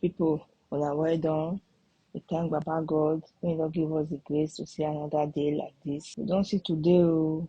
people una well done. We thank Baba God when He don give us the grace to see another day like this. We don see today o. Oh.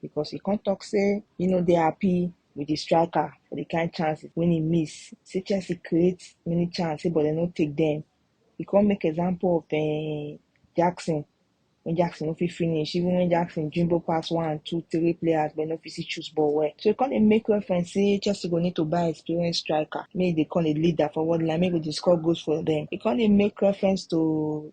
because he come talk say he no dey happy with the striker for the kind chance when he miss. Say Chelsea create many chance, say but they no take them. He come make example of uh, Jackson. When Jackson no fit finish, even when Jackson dribble pass one, two, three players, but no fit see choose ball well. So he come dey make reference say Chelsea go need to buy experienced striker. Make they call a leader forward line, make go dey score goals for them. He come dey make reference to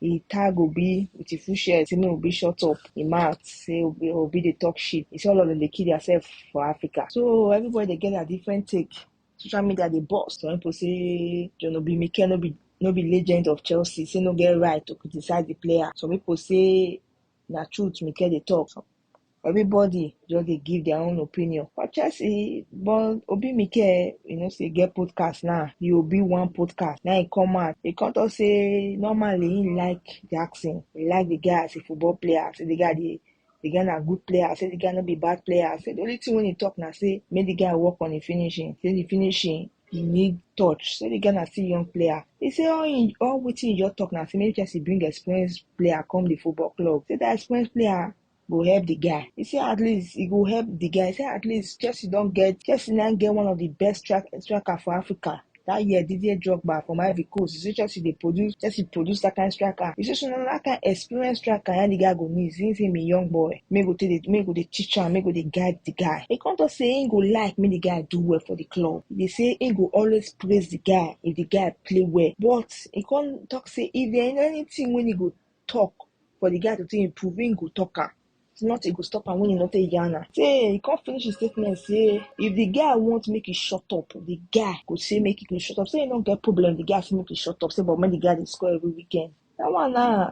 He tag Obi with his full shirt, say make Obi shut up him mouth, say Obi, Obi dey talk shit. He say all of them dey kill themselves for Africa. So everybody dey get their different take. Social media dey burst. Some people say John Obi Mikel no be no be legend of Chelsea, say no get right to criticize the player. Some people say na truth Mikel dey talk. Some everybody just dey give their own opinion but chelsea but obi mikel you know say get podcast now the obi one podcast now he come out he come talk say normally he like jackson he like the guy as a football player say the guy dey the guy na good player say the guy no be bad player say the only thing wey he talk na say make the guy work on the finishing say the finishing e need touch say the girl na still young player e say all im all wetin e just talk na say make chelsea bring experienced player come the football club say that experienced player go help the guy e say at least e go help the guy e say at least chelsea don get chelsea now get one of the best strike, striker for africa that year didier drogba from ivory coast e say chelsea dey produce chelsea produce that kind striker e say so na that kind experienced striker na the guy go need since him be young boy make go take dey make go dey teach am make go dey guide the guy e come talk say him go like make the guy do well for the club e dey say he go always praise the guy if the guy play well but he come talk say if there is anything wey he go talk for the guy to take improve he go talk am if not he go stop am when he no take yarn am say he come finish his statement say if the guy want make he shut up the guy go say make he go shut up say he no get problem the guy say make he shut up say but make the guy dey score every weekend that one na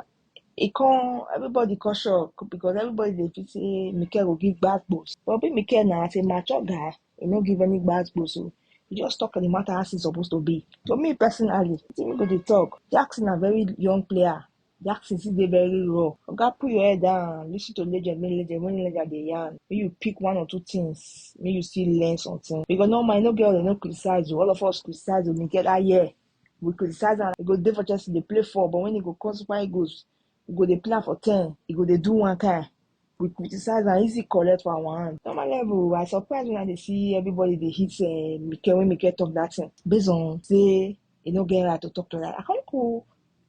e come everybody come shock because everybody dey feel say Mikel go give gbas gbos but be Mikel na as a mature guy He no give any bad gbos o. He just talk the matter as e suppose to be. To me personally, wetin people dey talk, Jackson na very young player. Jackson still dey very raw. Oga put your head down, listen to legend, make legend, when legend dey yarn, make you pick one or two things, make you still learn something. Because normal, you no get all dem no criticize o. All of us criticize o, we get that year. We criticize am, e go dey for Chelsea, dey play for, but when e go come Super Eagles, we go dey plan for ten e go dey do one kind we criticize am easy collect for our hand normal level i surprise when i dey see everybody dey hit uh, mike when mike talk that thing based on say e no get right to talk to that i come go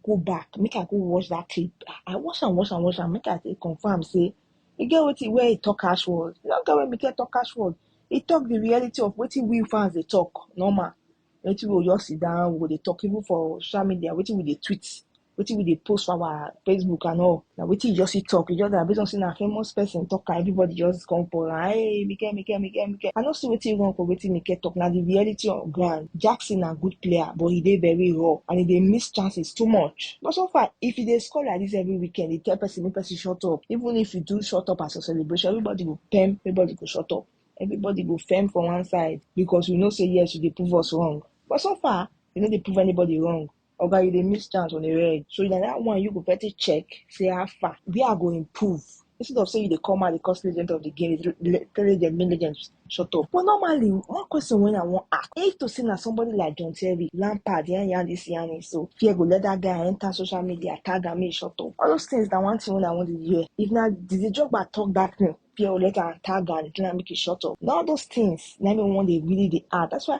go back make i go watch that clip i watch am watch am watch am make i take confirm say e get wetin where e talk cash word e no get where mike talk cash word e talk the reality of wetin we fans dey talk normal wetin we go just sit down we go dey talk even for social media wetin we dey tweet wetin we dey post for our facebook and all na wetin you just see talk you just na based on say na famous person talk am everybody just come pour am hey mike mike mike mike i no see wetin wrong for wetin mike talk na the reality on ground jackson na good player but he dey very raw and he dey miss chances too much but so far if he dey score like this every weekend he tell person make person shut up even if you do shut up as a celebration everybody go pem everybody go shut up everybody go firm for one side because we know say yes you dey prove us wrong but so far you no dey prove anybody wrong Oga, you dey miss chance on the red. So na that one you go better check, say how far, where I go improve. Instead of say you dey come out, dey cause legend of the game, dey le- tell legend, make legend shut up. But normally, one question when I wan ask, if to say na somebody like John Terry, Lampard, yan yan this yan this, so fear go let that guy enter social media, tag am, make e shut up. All those things na one thing when I wan dey hear. If na Didier Drogba talk that thing, fear go let am tag am, tell am make e shut up. Na all those things na me wan dey really dey add. That's why